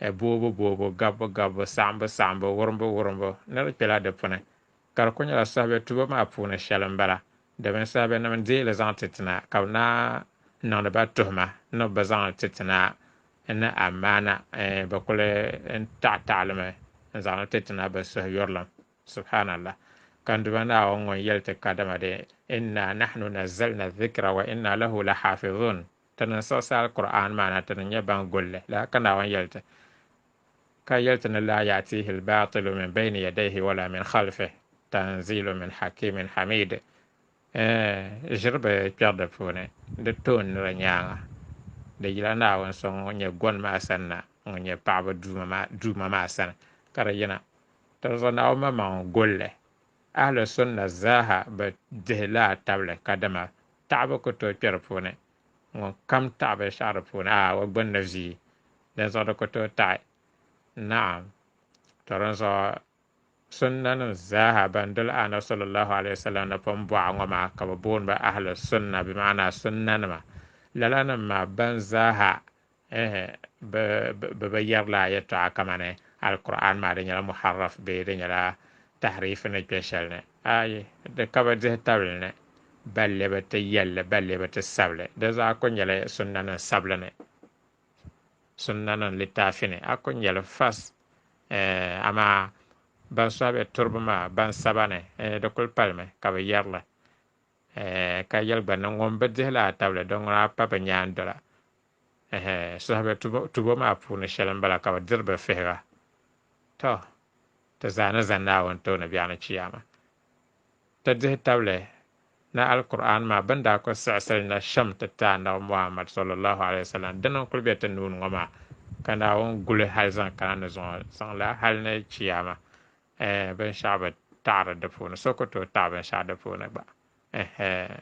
e boobu boobu, gabbu gabbu, saɣimbu saɣimbu, wurimbu wurimbu ni di kpela di puni ka di kuli nyɛla sahabɛ tubo maa puuni shɛli m-bala domin sahabɛnim n-deei li zaŋ ti ti na ka bɛ naa niŋdi ba tuhima ni bɛ bi zaŋ li ti ti na ni amaana bɛ kuli taɣi taɣi li mi n-zaŋ li ti ti na bɛ suhuyurilim. Subhaanallah! Ka n Duuma Naawuni ŋun yɛli ti kadama dee, Inna nahnu nazzalna dhikra wa inna lahu lahaafidhuun. Ti ni siɣisi Alkur'aani maa na ti ni nyɛ ban gul li. Lala ka Naawuni yɛli ti, Ka yɛli ti ni, Laa ya'tiihi al-baatilu min bayni yadayhi wa laa min khalfihi, tanziilun min hakiimin hamiid. Ɛɛn! Ʒiri bɛ kpɛri di puuni, di toon nira nyaaŋa. Di yila Naawuni so ŋun nyɛ goni maa sani na, ŋun nyɛ paɣibu Duuma maa sani, ka di yina. Tɔzɔh Naawuni maŋmaŋ n-gul li. Ahli Sunna zaaha bi dihi laa tabili kadama taɣibu ku tooi kpɛ di puuni. Ŋun kam taɣi binshɛɣu di puuni a o gbunni vii, dinzuɣu di ku tooi taɣi. Naɣim! Tɔ dinzuɣu Sunnanim zaaha ban doli Annabi sallallahu alaihi wasallam ni pun bɔɣa ŋɔ maa ka bɛ booni ba Ahli Sunna bimaana Sunnanima. Lalanim maa ban zaaha bɛ bi yɛrila a yɛtɔɣa kamani Alkur'aani maa di nyɛla muharraf bee di nyɛla tahriif ni kpe shɛli ni. Ayi, di ka bi dihi tabili ni, balli bi ti yɛl li, balli bi ti sab li. Di zaa ku nyɛla sunnanim sabili ni, sunnanim litaafi ni, a ku nya li fas. Amaa ban sɔhi bɛ turiba maa ban saba ni, di kul palimi ka bɛ yɛri li, ka yɛli gba ni, Ŋun bi dihi li a tabili, di ŋuna pa bɛ nyaandola. Ɛhɛ, suhibɛ tubo tubo maa puuni shɛli m-bala ka bɛ diri bɛ fihiga. Tɔ! Ti zaa ni za Naawuni tooni biɛɣu ni Chiyaama, ti dihi tabili ni Alkur'aani maa bɛn daa kuli siɣisiri na shɛm ti ti Annabi Muhammad, sallallahu alayhi wa sallam, dini n-kuli be ti nuu ni ŋɔ maa, ka Naawuni guli hal zaŋ kana ni zuŋɔ zaŋ la hal ni Chiyaama, ɛɛn, binshɛɣu bi taɣiri di puuni, so ku tooi taɣi binshɛɣu di puuni gba. Ɛhɛ!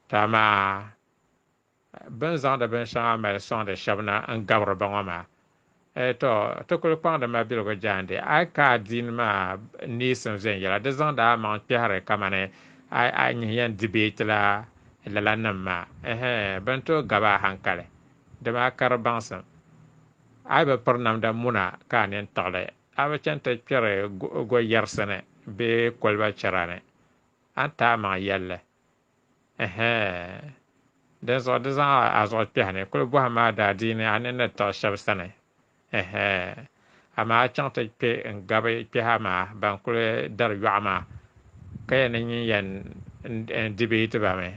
Tɔ amaa! Bɛ ni zaŋdi binshɛŋa mali sɔŋdi shɛb na n-gabiri ba ŋɔ maa, eh, tɔ, ti kul kpaŋdi mabiligu jaande a ka a din maa neesim viɛnyɛla, di zaŋdi a maŋ kpɛhiri kamani a nyihi yɛn di bee ti la lala nim maa, ɛhɛ, bɛ ni tooi gab a haŋkali, dama a kari baŋsim. A yi bi piri namda muna ka a nini tiɣili, a bi chani ti kpɛri gɔyɛrisi ni bee koliba chɛra ni, a ni ti a maŋ yɛlli. Ɛhɛɛ! Dinzuɣu di zaŋ a zuɣu kpɛhi ni kuli bɔhi ma daadiini a ni ni tiɣi shɛb sani. Ɛhɛɛ! Amaa a chaŋ ti kpe n-gabi kpɛha maa ban kuli dari yɔɣu maa, ka yɛn ni nyin yɛn di bee ti ba mi.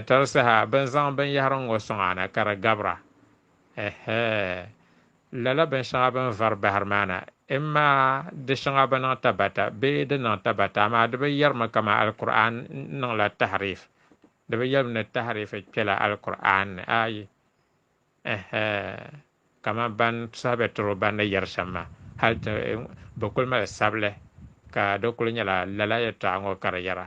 Tɔri saha bɛ ni zaŋ binyɛhiri ŋ-ŋɔ sɔŋ a ni ka di gabira. Ɛhɛɛ! Lala binshɛŋa bɛ ni vari bahiri maa na, imma di shɛŋa bi niŋ tabata bee di niŋ tabata, amaa di bi yɛrimi kaman Alkur'aani niŋla tahiriif. Di bi yɛlim ni tahiriif kpela Alkur'aani ni, ayi, ɛhɛ, kaman ban saha bɛ tiri o ban ni yɛri shɛm maa, hal ti bɛ kul mali sabili ka di kul nyɛla lala yɛtɔɣa ŋɔ ka di yɛra.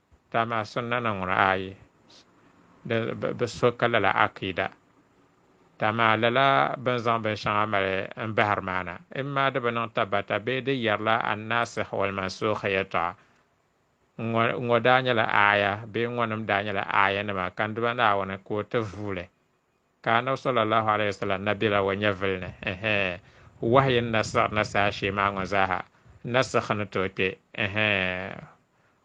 Dama maa sunnana ŋuna ayi di bi so ka lala akiida. Dama maa lala bini zaŋ bin shɛŋa mali n bahiri maa na, imma di bi niŋ tabbata bee di yɛrila An-Naasih wal-Mansuukh yɛltɔɣa. Ŋɔ ŋɔ daa nyɛla aaya bee ŋɔnim daa nyɛla aayanima ka n Duuma Naawuni ka o ti vuuli. Ka Annabi sallallahu alaihi wasallam na bela o nyɛvili ni, ɛhɛ, wahayi ni na siɣiri na saha shee maa ŋɔ zaaha, nasikh ni tooi kpe, ɛhɛ,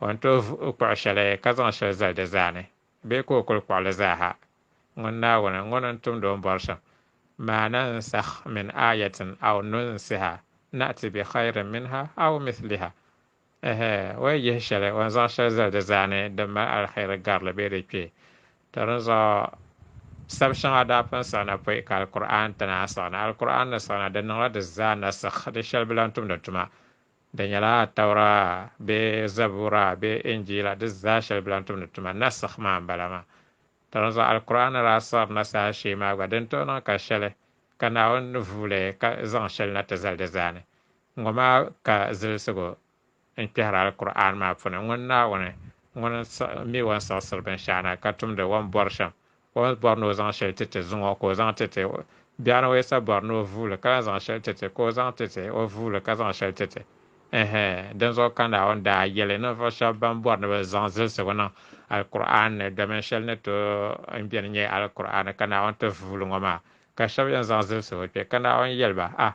o ni tooi kpuɣi shɛli ka zaŋ shɛli zali di zaa ni, bee ka o kul kpuɣi li zaaha. Ŋun Naawuni, Ŋun ni tumd o ni bɔri shɛm, Ma nansakh min aayatin aw nunsiha na'ti bi khayrin minha aw mithliha, Ɛhɛ! O yi yihi shɛli, o ni zaŋ shɛli zali di zaa ni din mali aliheri garili bee di kpe? Tɔ dinzuɣu sab shɛŋa daa pun siɣi na pɔi ka Alkur'aani ti naai siɣi na. Alkur'aani ni siɣi na, di niŋla di zaa nasikh, di shɛli bi lahi tumdi tuma. Di nyɛla Atawra bee Zabuura bee Injiila, di zaa shɛli bi lahi tumdi tuma. Nasikh maa m-bala maa. Tɔ dinzuɣu Alkur'aani ni daa siɣiri na saha shee maa gba, din tooi niŋ ka shɛli, ka Naawuni ni vuui li ka zaŋ shɛli na ti zali di zaa ni, Ŋɔ maa ka zilisigu n kpɛhiri Alkur'aani maa puuni, Ŋun Naawuni ŋun mi o ni siɣisiri binshɛɣu na ka tumdi o ni bɔri shɛm, o ni bɔri ni o zaŋ shɛli ti ti zuŋ o ka o zaŋ ti ti o. Biɛɣuni o yisa bɔri ni o vuuli ka lahi zaŋ shɛli ti ti, ka o zaŋ ti ti o vuuli ka zaŋ shɛli ti ti. Ɛɛhɛ! Dinzuɣu ka Naawuni daa yɛli ninvuɣu shɛba ban bɔri ni bɛ zaŋ zilisigu niŋ Alkur'aani ni, Domin shɛli ni tooi n beni nyɛ Alkur'aani ka Naawuni ti vuuli ŋɔ maa, ka shɛba yɛn zaŋ zilisigu kpe, ka Naawuni yɛli ba, A,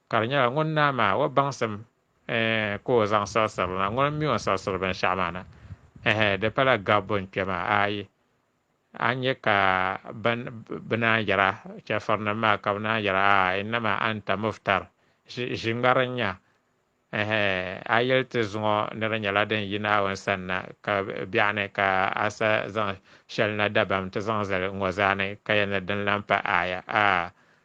Ka di nyɛla ŋun naa maa o baŋsim eh, ka o zaŋ saɣisiri na, ŋuni m-mi o ni saɣisiri binshɛɣu maa na? Eh, di pala gabbu n-kpe maa, aai! A ni nya ka ban bɛ naan yɛra, chɛfurinim maa, ka bɛ naan yɛra, Aai! Innama anta muftar, ʒi, ʒi ŋmari n-nya. Eh, a yɛli ti zuŋɔ ni di nyɛla din yi Naawuni sani na, ka biɛɣu ni ka a sa zaŋ shɛli na dabam ti zaŋ zali ŋ-ŋɔ zaa ni, ka yɛli ni din lan pa aaya, aai!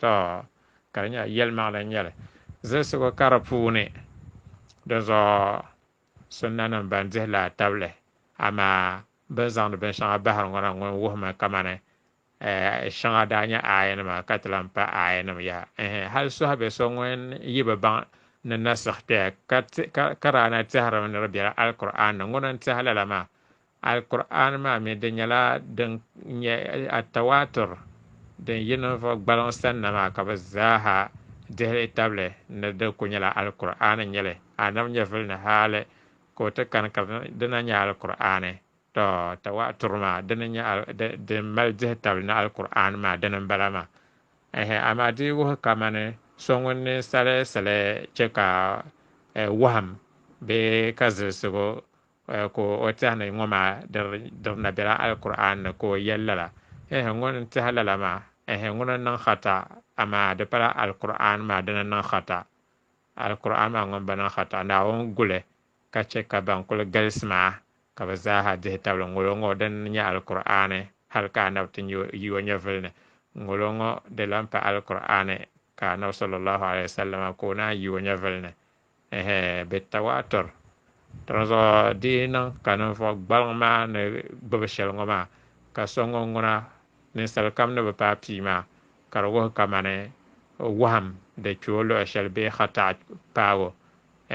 Tɔ! Ka di nyɛla yɛlimaŋli n-nyɛ li zilsigu kari puuni. Dinzuɣu sunnanim ban dihi laa tabili, amaa bɛ ni zaŋdi binshɛŋa bahiri ŋɔ na ŋun wuhimi kamani shɛŋa daa nyɛ aayanima ka ti lan pa aayanim yaha. Ɛɛh! Hal sɔhibe so ŋun yi bi baŋ ni nasikh kpɛya ka daa na tɛhirimi ni di biɛla Alkur'aani ni ŋuna n-tɛhi lala maa, Alkur'aani maa mi di nyɛla din nyɛ at-tawaatur din yi ninvuɣ gbaliŋ sanna maa ka bɛ zaaha dihi li tabili ni di kul nyɛla Alkur'aani n-nyɛ li, Annabi nyɛvili ni hali ka o ti kani ka di na nyɛ Alkur'aani. Tɔ! Tawaatur maa dini nyɛ din mali dihi tabili ni Alkur'aani maa dini m-bala maa. Ɛɛhɛ! Amaa di yi wuhi kamani so ŋun ninsal sali chɛ ka wɔhim bee ka zilsigu Eh, ka o tɛhi ni ŋɔ maa diri na bela Alkur'aani ni, ka o yɛli lala, Eh, ŋuni n-tɛhi lala maa? Eh, ŋuni n-niŋ khata? Amaa di pala Alkur'aani maa dini n-niŋ khata. Alkur'aani maa ŋun bi niŋ khata, Naawuni gu li ka chɛ ka bɛn kul galisi maa ka bɛ zaaha dihi tabili ŋolo ŋɔ din nyɛ Alkur'aani hal ka Annabi ti nya yi o nyɛvili ni. Ŋolo ŋɔ di lan pa Alkur'aani ka Annabi sallallaahu alayhi wa sallama ka o naanyi yi o nyɛvili ni. Ɛhɛ, bɛ Tawaatur. Dinzuɣu di yi niŋ ka ninvuɣ gbaliŋ maa ni gbibi shɛli ŋɔ maa, ka so ŋun ŋuna ninsal kam ni bi paai pii maa, ka di wuhi kamani wahim di kpe o luɣ shɛli bee khata'at paabu.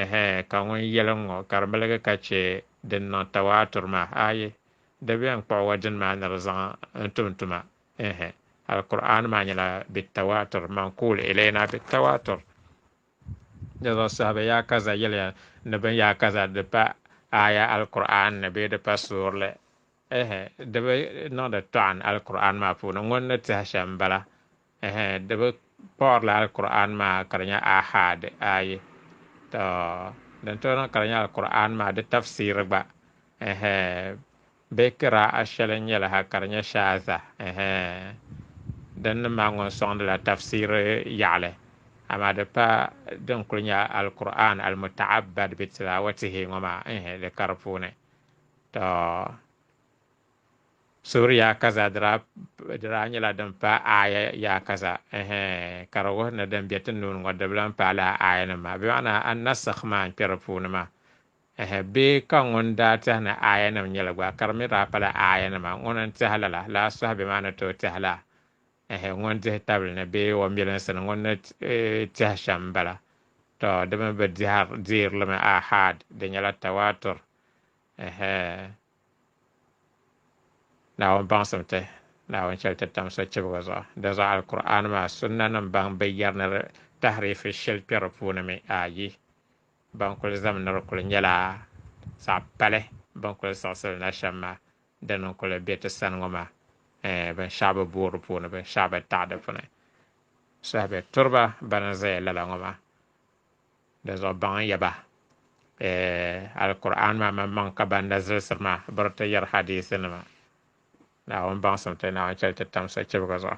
Ɛhɛ, ka ŋun yɛli n ŋɔ, ka di miligi ka chɛ din niŋ Tawaatur maa, aaye, di bɛ n kpuɣ wa dini maa ni di zaŋ n tum tuma. Ɛhɛ, Alkur'aani maa nyɛla bɛ Tawaatur, Mankuul ilayna bɛ Tawaatur. Di zuɣu saha bɛ yaa kaza yɛliya ni bɛn yaa kaza di pa aaya Alkur'aani ni bee di pa suurili, ɛɛhɛ, di bi niŋdi tɔɣin Alkur'aani maa puuni, ŋuni ni tɛhi shɛm m-bala, ɛɛhɛ, di bi kpuɣirila Alkur'aani maa ka di nyɛ Aahaad ayi, tɔ! Din tooi niŋ ka di nyɛ Alkur'aani maa di tafsiiri gba, ɛɛhɛ, Bɛ kiraa'a shɛli nyɛla ha ka di nyɛ shaadha, ɛhɛ, din ni maa ŋun sɔŋdila tafsiiri yaɣili, amaa di pa din kuli nyɛ Alkur'aani al-Muta'abbad bi tilaawatihi ŋɔ maa, ɛhɛ, di ka di puuni. Tɔ! Suuri yaakaza di daa nyɛla din pa aaya yaakaza, ɛhɛ, ka di wuhi ni din be ti nuuni ŋɔ dibilim paai lala aayanim maa, bimaana an-Nasikh maa n-kpe di puuni maa. Ɛhɛ, bee ka ŋun daa tɛhi ni aayanim nyɛli gba, ka di mi daa pala aayanima, ŋuni n-tɛhi lala, lala suhi bɛ maa ni tooi tɛhi la? Ɛhɛ, ŋun dihi tabili ni bee o milinsi ni ŋun ni tɛhi shɛm m-bala. Tɔ! Di mi bi deeri li mi aahaad, di nyɛla tawaatur. Ɛhɛ! Naawuni baŋsim ti, Naawuni chɛ li ti tam sochibiga zuɣu. Dinzuɣu Alkur'aani maa sunnanim baŋ bi yɛri ni di tahiriifi shɛli kpɛri puuni mi, ayi, Ban kuli zaminiri kuli nyɛla zaɣ pali ban kuli siɣisiri na shɛm maa, dini n-kuli be ti sani ŋɔ maa, ɛɛn, binshɛɣu bi booi di puuni, binshɛɣu bi taɣi di puuni. Saha be turi ba bana zaya lala ŋɔ maa. Dinzuɣu baŋ n-yɛ ba, ɛɛn, Alkur'aani maa maŋmaŋ ka ban na zilisiri maa biri ti yɛri hadiisinima. Naawuni baŋsim ti, Naawuni chɛli ti tam sochibigi zuɣu.